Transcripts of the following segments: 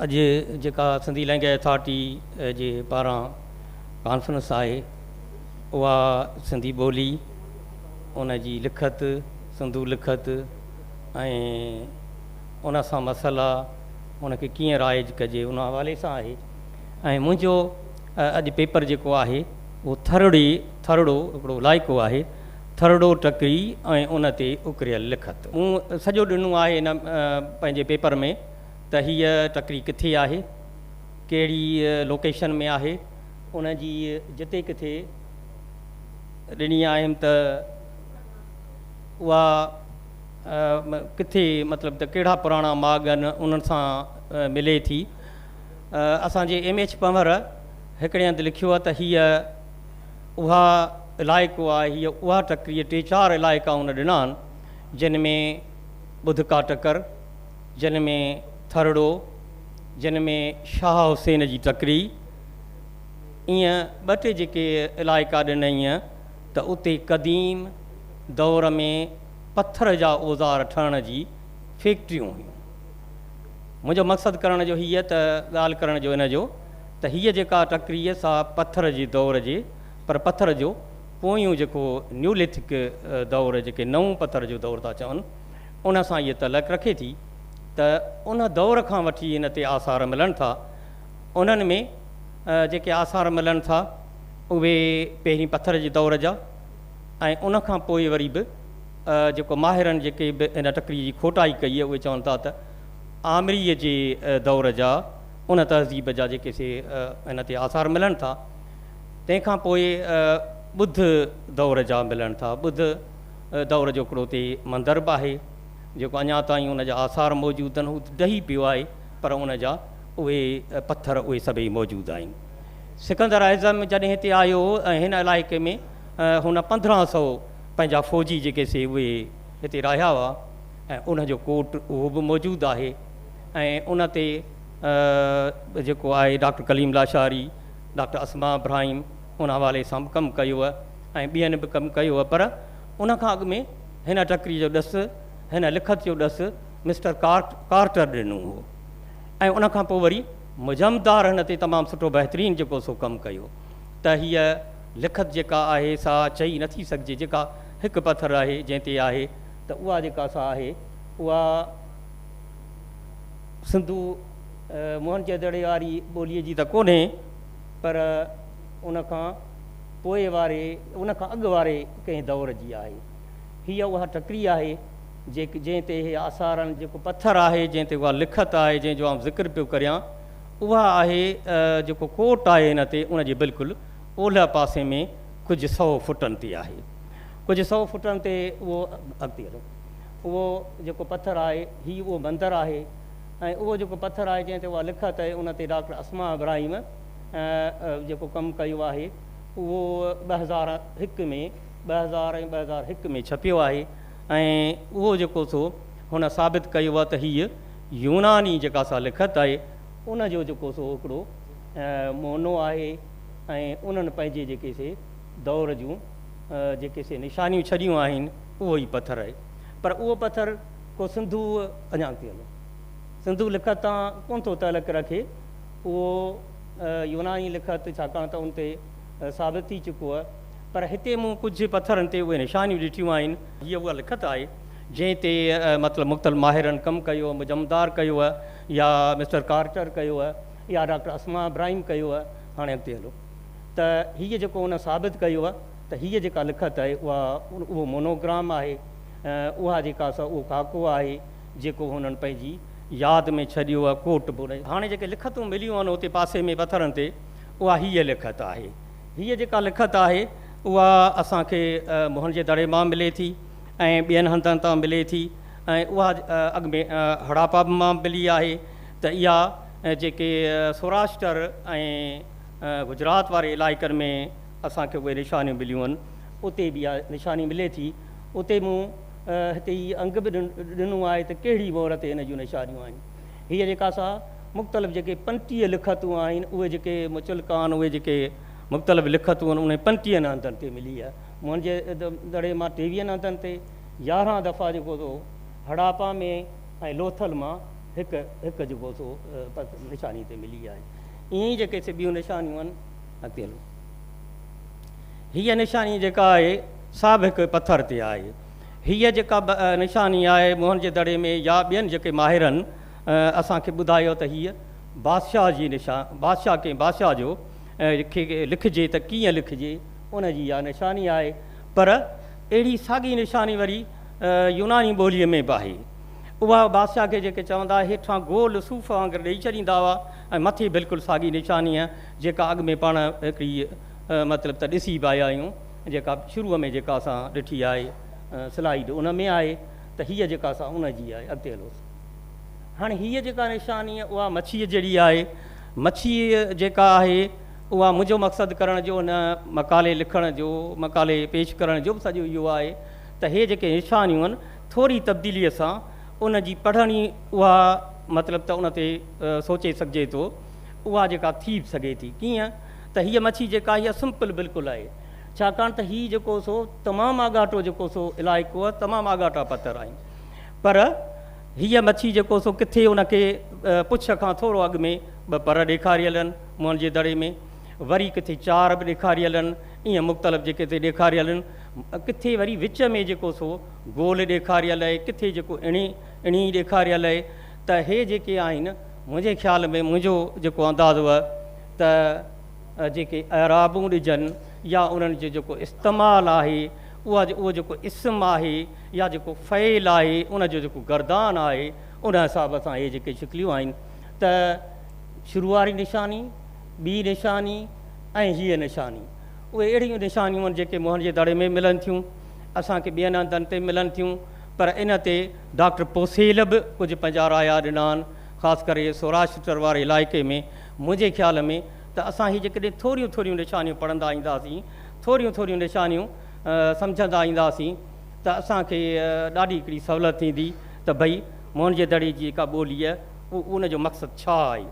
اڄ جيڪا Sindhi language authority جي پاران ڪانفرنس آهي اها سنڌي ٻولي ان جي لکت سنڌو لکت ۽ ان سان مسئلا ان کي ڪيئن رائج ڪجي ان حوالي سان آهي ۽ منهنجو اڄ پيپر جيڪو آهي اهو ٿرڙي ٿرڙو هڪڙو علائقو آهي ٿرڙو ٽڪري ۽ ان تي اڪريل لکت مون سڄو ڏنو آهي ان پنهنجي پيپر ۾ ته هيء ٽڪري ڪٿي آهي، ڪهڙي لوڪيشن ۾ آهي، ان جي جتي ڪٿي ڏني آهيم ته اها ڪٿي مطلب ته ڪهڙا پراڻا ماڳ آهن انهن سان ملي ٿي. اسان جي ايم ايڇ پنهور هڪڙي هنڌ لکيو آهي ته هيء اها علائقو آهي، هيء اها ٽڪري ٽي چار علائقا هن ڏنا آهن جن ۾ ٻڌڪا ٽڪر، جنھن ۾ ٿرڙو، جنھن ۾ شاھه حسين جي ٽڪري، ايئن ٻه ٽي جيڪي علائقا ڏنائين ته اتي قديم دور ۾ پٿر جا اوزار ٺھڻ جي فيڪٽريون ھيون. منھنجو مقصد ڪرڻ جو ھيء ته ڳالھه ڪرڻ جو ان جو ته ھيء جيڪا ٽڪري سا پٿر جي دور جي پر پٿر جو پويون جيڪو نيوليٿڪ دور جيڪي نئون پٿر جو دور ٿا چون ان سان اهي تعلق رکي ٿي ته ان دور کان وٺي هن تي آثار ملن ٿا. انهن ۾ جيڪي آثار ملن ٿا اهي پهرين پٿر جي دور جا ۽ ان کان پوء وري به جيڪو ماهرن جيڪي به ان ٽڪري جي کوٽائي ڪئي آهي اهي چون ٿا ته آمريء جي دور جا ان تهذيب جا جيڪي سي هن تي آثار ملن ٿا. تنهن کان پوء ٻڌ دور جا ملن ٿا. ٻڌ. دور جو هڪڙو اتي مندر به آهي جيڪو اڃا تائين ان جا آثار موجود آهن هو ڊهي پيو آهي پر ان جا اهي پٿر اهي سڀئي موجود آهن سڪندر اعظم جڏهن هتي آيو ۽ هن علائقي ۾ هن پندرهن سئو پنهنجا فوجي جيڪي سي اهي هتي راهيا هئا ۽ ان جو ڪوٽ اهو به موجود آهي ۽ ان تي جيڪو آهي ڊاڪٽر ڪليم لاشاري ڊاڪٽر اسما ابراهيم ان حوالي سان به ڪم ڪيو ۽ ٻين به ڪم ڪيو هو پر ان کان اڳ ۾ هن ٽڪري جو ڏس هن لکت جو ڏس مسٽر ڪارٽر ڏنو هو ۽ ان کان پوء وري مجمدار هن تي تمام سٺو بهترين جيڪو سو ڪم ڪيو ته هيء لکت جيڪا آهي سا چئي نه ٿي سگهجي جيڪا هڪ پٿر آهي جنهن تي آهي ته اها جيڪا سا آهي اها سنڌو موهن جدڙي واري ٻوليء جي ته ڪونهي پر ان کان پوء واري، ان کان اڳ واري ڪنهن دور جي آهي. هيء اها ٽڪري آهي، جيڪ، جنهن تي اهي آثار آهن، جيڪو پٿر آهي، جنهن تي اها لکت آهي، جنهن جو آئون ذڪر پيو ڪريان، اها آهي، جيڪو ڪوٽ آهي هن تي، ان جي بلڪل اولهه پاسي ۾ ڪجهه سؤ فٽن تي آهي. ڪجهه سؤ فٽن تي اهو، اڳتي هلو، اهو جيڪو پٿر آهي، هي اهو مندر آهي ۽ اهو جيڪو پٿر آهي، جنهن تي اها لکت آهي، ان تي ڊاڪٽر اسماء ابراهيم، جيڪو ڪم ڪيو آهي اهو ٻه هزار هڪ ۾ ٻه هزار ۽ ٻه هزار هڪ ۾ ڇپيو آهي ۽ اهو جيڪو سو هن ثابت ڪيو آهي ته هيء يوناني جيڪا سا لکت آهي ان جو جيڪو سو هڪڙو مونو آهي ۽ انهن پنهنجي جيڪي سي دور جون جيڪي سي نشانيون ڇڏيون آهن اهو ئي پٿر آهي پر اهو پٿر ڪو سنڌو اڃا تائين سنڌو لکت تان ڪونه ٿو تعلق رکي اهو يوناني لکت ڇاڪاڻ ته ان تي ثابت ٿي چڪو هئه، پر هتي مون ڪجهه پٿرن تي اهي نشانيون ڏٺيون آهن. هيء اها لکت آهي، جنهن تي مطلب مختلف ماهرن ڪم ڪيو هئه، مجمدار ڪيو هئه يا مسٽر ڪارٽر ڪيو هئه يا ڊاڪٽر اسماء ابراهيم ڪيو هئه. هاڻي اڳتي هلو ته هيء جيڪو هن ثابت ڪيو هئه ته هيء جيڪا لکت آهي اها اهو مونوگرام آهي، اها جيڪا سا اهو خاڪو آهي، جيڪو هنن پنهنجي. ياد ۾ ڇڏيو آ ڪوٽ بوري. هاڻي جيڪي لکتون مليون آهن اتي پاسي ۾ پٿرن تي اها هيء لکت آهي. هيء جيڪا لکت آهي اها اسان کي موهن جي دڙي مان ملي ٿي ۽ ٻين هنڌن تان ملي ٿي ۽ اها اڳ ۾ هڙاپا به مان ملي آهي ته اها جيڪي سوراشٽر ۽ گجرات واري علائقن ۾ اسان کي اهي نشانيون مليون آهن اتي به اها نشاني ملي ٿي اتي مون هتي هي انگ به ڏنو آهي ته ڪهڙي مهر تي هن جون نشانيون آهن. هيء جيڪا سا مختلف جيڪي پنٽيهه لکتون آهن، اهي جيڪي مچلڪان اهي جيڪي مختلف لکتون آهن، انهن پنٽيهن هنڌن تي ملي آهي. مون جي دڙي مان ٽيويهن هنڌن تي يارهن دفعا جيڪو سو هڙاپا ۾ ۽ لوٿل مان هڪ هڪ جيڪو سو نشاني تي ملي آهي. ائين ئي جيڪي سي ٻيون نشانيون آهن. اڳتي هلو. هيء نشاني جيڪا آهي، سا به هڪ پٿر تي آهي. هيء جيڪا نشاني آهي، موهن جي دڙي ۾ يا ٻين جيڪي ماهرن اسان کي ٻڌايو ته هيء بادشاهه جي نشان، بادشاهه ڪنهن بادشاهه جو کي لکجي ته ڪيئن لکجي، ان جي اها نشاني آهي. پر اهڙي ساڳي نشاني وري يوناني ٻوليء ۾ به آهي. اها بادشاهه کي جيڪي چوندا، هيٺان گول صوف وانگر ڏيئي ڇڏيندا هئا ۽ مٿي بلڪل ساڳي نشانيء جيڪا اڳ ۾ پاڻ هڪڙي مطلب ته ڏسي به آيا آهيون جيڪا شروع ۾ جيڪا اسان ڏٺي آهي سلائيڊ ان ۾ آهي ته هيء جيڪا سا ان جي آهي اڳتي هلو سا هاڻي هيء جيڪا نشاني اها مڇيء جهڙي آهي مڇيء جيڪا آهي اها منهنجو مقصد ڪرڻ جو هن مقالي لکڻ جو مقالي پيش ڪرڻ جو به سڄو اهو آهي ته هي جيڪي نشانيون آهن ٿوري تبديليء سان ان جي پڙهڻي اها مطلب ته ان تي سوچي سگهجي ٿو اها جيڪا ٿي به سگهي ٿي ڪيئن ته هيء مڇي جيڪا هيء سمپل بلڪل آهي ڇاڪاڻ ته هي جيڪو سو تمام آڳاٽو جيڪو سو علائقو آهي تمام آڳاٽا پٿر آهن پر هيء مڇي جيڪو سو ڪٿي ان کي پڇ کان ٿورو اڳ ۾ ٻه پر ڏيکاريل آهن منهن جي دڙي ۾ وري ڪٿي چار به ڏيکاريل آهن ائين مختلف جيڪي ٿي ڏيکاريل آهن ڪٿي وري وچ ۾ جيڪو سو گول ڏيکاريل آهي ڪٿي جيڪو اڻي اڻي ڏيکاريل آهي ته هي جيڪي آهن منهنجي خيال ۾ منهنجو جيڪو انداز هو ته جيڪي اعرابون ڏجن يا انهن جو جيڪو استعمال آهي اها اهو جيڪو اسم آهي يا جيڪو فعل آهي ان جو جيڪو گردان آهي ان حساب سان اهي جيڪي شڪليون آهن ته شروع واري نشاني، ٻي نشاني ۽ هيء نشاني اهي اهڙيون نشانيون آهن جيڪي منهن جي دڙي ۾ ملن ٿيون، اسان کي ٻين هنڌن تي ملن ٿيون. پر ان تي ڊاڪٽر پوسيل به ڪجهه پنهنجا رايا ڏنا آهن، خاص ڪري سوراشٽر واري علائقي ۾. منهنجي خيال ۾ ته اسان هي جيڪڏهن ٿوريون ٿوريون نشانيون پڙهندا اينداسين، ٿوريون ٿوريون نشانيون سمجهندا اينداسين ته اسان کي ڏاڍي هڪڙي سهولت ٿيندي ته ڀئي موهن جي دڙي جي جيڪا ٻوليء ان جو مقصد ڇا آهي؟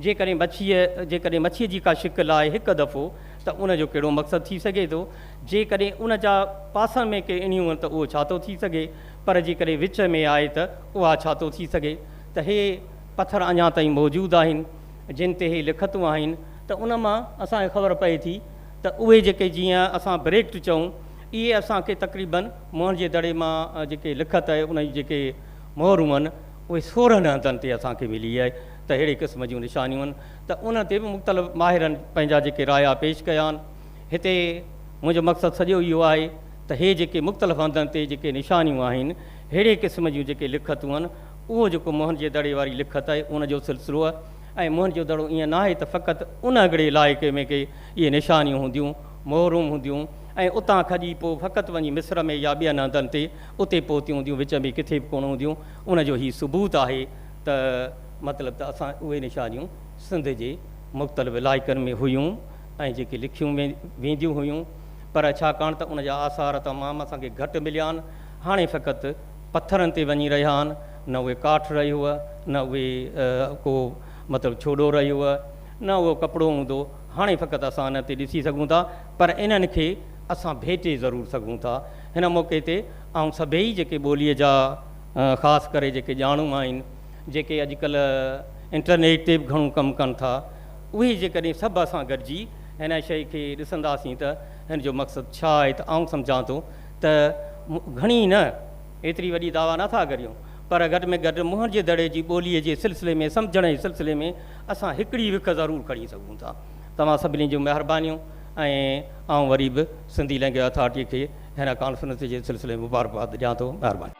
جيڪڏهن مڇيء جيڪڏهن مڇيء جي ڪا شڪل آهي هڪ دفعو ته ان جو ڪهڙو مقصد ٿي سگهي ٿو؟ جيڪڏهن ان جا پاسن ۾ ڪي اڻيون هئن ته اهو ڇا ٿو ٿي سگهي؟ پر جيڪڏهن وچ ۾ آهي ته اها ڇا ٿو ٿي سگهي؟ ته هي پٿر اڃا تائين موجود آهن جن تي هي لکتون آهن ته ان مان اسان کي خبر پئي ٿي ته اهي جيڪي جيئن اسان بريڪٽ چئون اهي اسان کي تقريبن مهڻ جي دڙي مان جيڪي لکت آهي ان جون جيڪي مهرون هئن اهي سورهن هنڌن تي اسان کي ملي آهي ته ههڙي قسم جون نشانيون هئن ته ان تي به مختلف ماهرن پنهنجا جيڪي رايا پيش ڪيا آهن. هتي منهنجو مقصد سڄو اهو آهي ته هي جيڪي مختلف هنڌن تي جيڪي نشانيون آهن، ههڙي قسم جون جيڪي لکتون آهن، اهو جيڪو موهن جي دڙي واري لکت آهي ان جو سلسلو آهي ۽ موهن جو دڙو ائين ناهي ته فقط ان هڪڙي علائقي ۾ ڪي اهي نشانيون هونديون، مهرون هونديون ۽ اتان کڄي پوء فقط وڃي مصر ۾ يا ٻين هنڌن تي اتي پهتيون هونديون، وچ ۾ ڪٿي به ڪونه هونديون، ان جو هي ثبوت آهي ته مطلب ته اسان اهي نشانيون سنڌ جي مختلف علائقن ۾ هيون. ۽ جيڪي لکيون وينديون هيون پر ڇاڪاڻ ته ان جا آثار تمام اسان کي گهٽ مليا آهن هاڻي فقط پٿرن تي وڃي رهيا آهن نه اهي ڪاٺ رهيو نه اهي ڪو مطلب ڇوڏو رهيو نه اهو ڪپڙو هوندو هاڻي فقط اسان انهن تي ڏسي سگهون ٿا پر انهن کي اسان ڀيٽي ضرور سگهون ٿا هن موقعي تي آئون سڀيئي جيڪي ٻوليء جا خاص ڪري جيڪي ڄاڻو آهن جيڪي اڄڪلهه انٽرنيٽ تي به گهڻو ڪم ڪن ٿا اهي جيڪڏهن سڀ اسان گڏجي هن شيء کي ڏسنداسين ته هن جو مقصد ڇا آهي ته آئون سمجهان ٿو ته گهڻي نه ايتري وڏي دعويٰ نه ٿا ڪريون پر گهٽ ۾ گهٽ منهن جي دڙي جي ٻوليء جي سلسلي ۾ سمجهڻ جي سلسلي ۾ اسان هڪڙي وک ضرور کڻي سگهون ٿا. توهان سڀني جون مهربانيون ۽ آئون وري به سنڌي لئنگويج اٿارٽيء کي هن ڪانفرنس جي سلسلي ۾ مبارڪباد ڏيان ٿو. مهرباني.